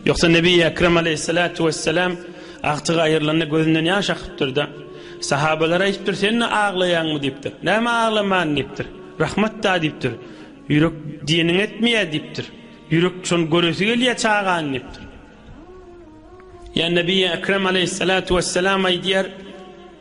Ýoksa Nebi Ekrem aleyhissalatu wesselam agtyk aýyrylanda gözünden ýaş akypdyr-da. Sahabalara aýdypdyr, sen-de aglaýaňmy diýipdir. Näme aglaman diýipdir. Rahmat-da diýipdir. Ýürek diýeniň etmeýär diýipdir. Ýürek şony göresi gelýär çagany diýipdir. Ýa Nebi Ekrem aleyhissalatu wesselam aýdýar,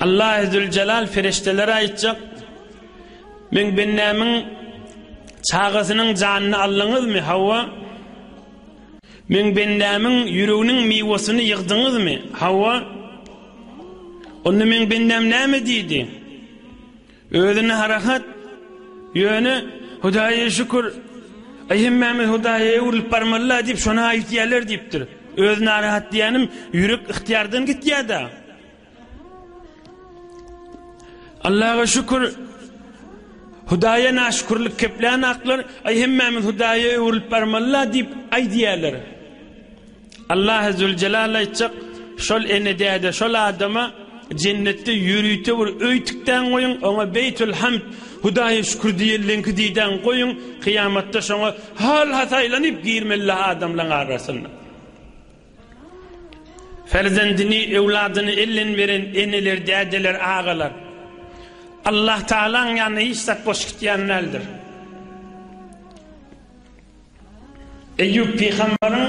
Allahy Züljelal perişdelere aýtjak, Meň bendämiň çagasynyň janyny aldyňyzmy? Hawa. Meň bendämiň ýüreginiň miwesyny ýygdyňyzmy? Hawa. Onda meň bendäm näme diýdi? Özüne harakat, ýöne Hudaýa şükür, aý hemmämiz Hudaýa öwrülip barmaly-la diýip şony aýytýarlar diýipdir. Öz narahat diýýänim ýürek ygtyýardan gitýär-dä. Allaga şükür, Hudaýa naşükürlik keplän aklar, aý hemmämiz Hudaýa öwrülip barmaly-la diýip aýdýarlar. Allahy züljelal aýtjak, Şol ene-däde, şol adama Jennetde ýörite bir öý tikdäň goýuň, oňa Beýtül Hamd, Hudaýa şükür diýenleňki diýdäň goýuň, kyýamatda şoňa hal-has aýlanyp girmelidir adamlaň arasynda. Perzendini, öwladyny elden beren eneler, dädeler, agalar Allahtagalaň ýanyna hiç zat boş gitýän däldir. Eýýup pygamberyň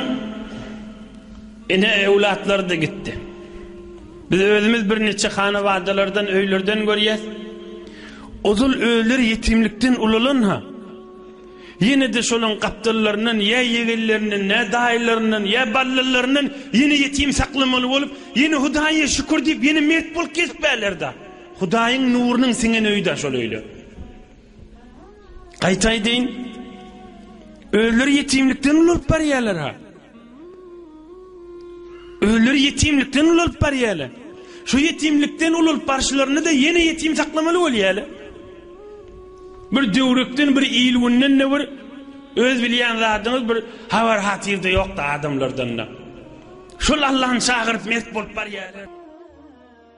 ene öwlatlary-da gitdi. Biz özümiz birniçe hanawadalardan, öýlerden görýäs. Ozal özleri ýetimlikden ulalan-ha, ýene-de şolaryň gapdallaryndan ýa ýegenlerinden, ýa daýylaryndan, ýa ballalaryndan ýene ýetim saklamaly bolup, ýene Hudaýa şükür diýip, ýene mert bolup gezip bärler-da. Hudaýyň nurunyň siňen öýi-da şol öýler. Gaýta aýdaýyn, özleri ýetimlikden ulalyp barýarlar ha. Özleri ýetimlikden ulalyp barýarlar. Şu ýetimlikden ulalyp barşylaryny da ýene ýetim saklamaly bolýarlar. Bir döwrükden, bir ilgünden de bir öz bilýän zadyňyz bir habar hatyrda ýokda adamlardan da. Şol Allah'ın çagyryp mert bolup barýarlar.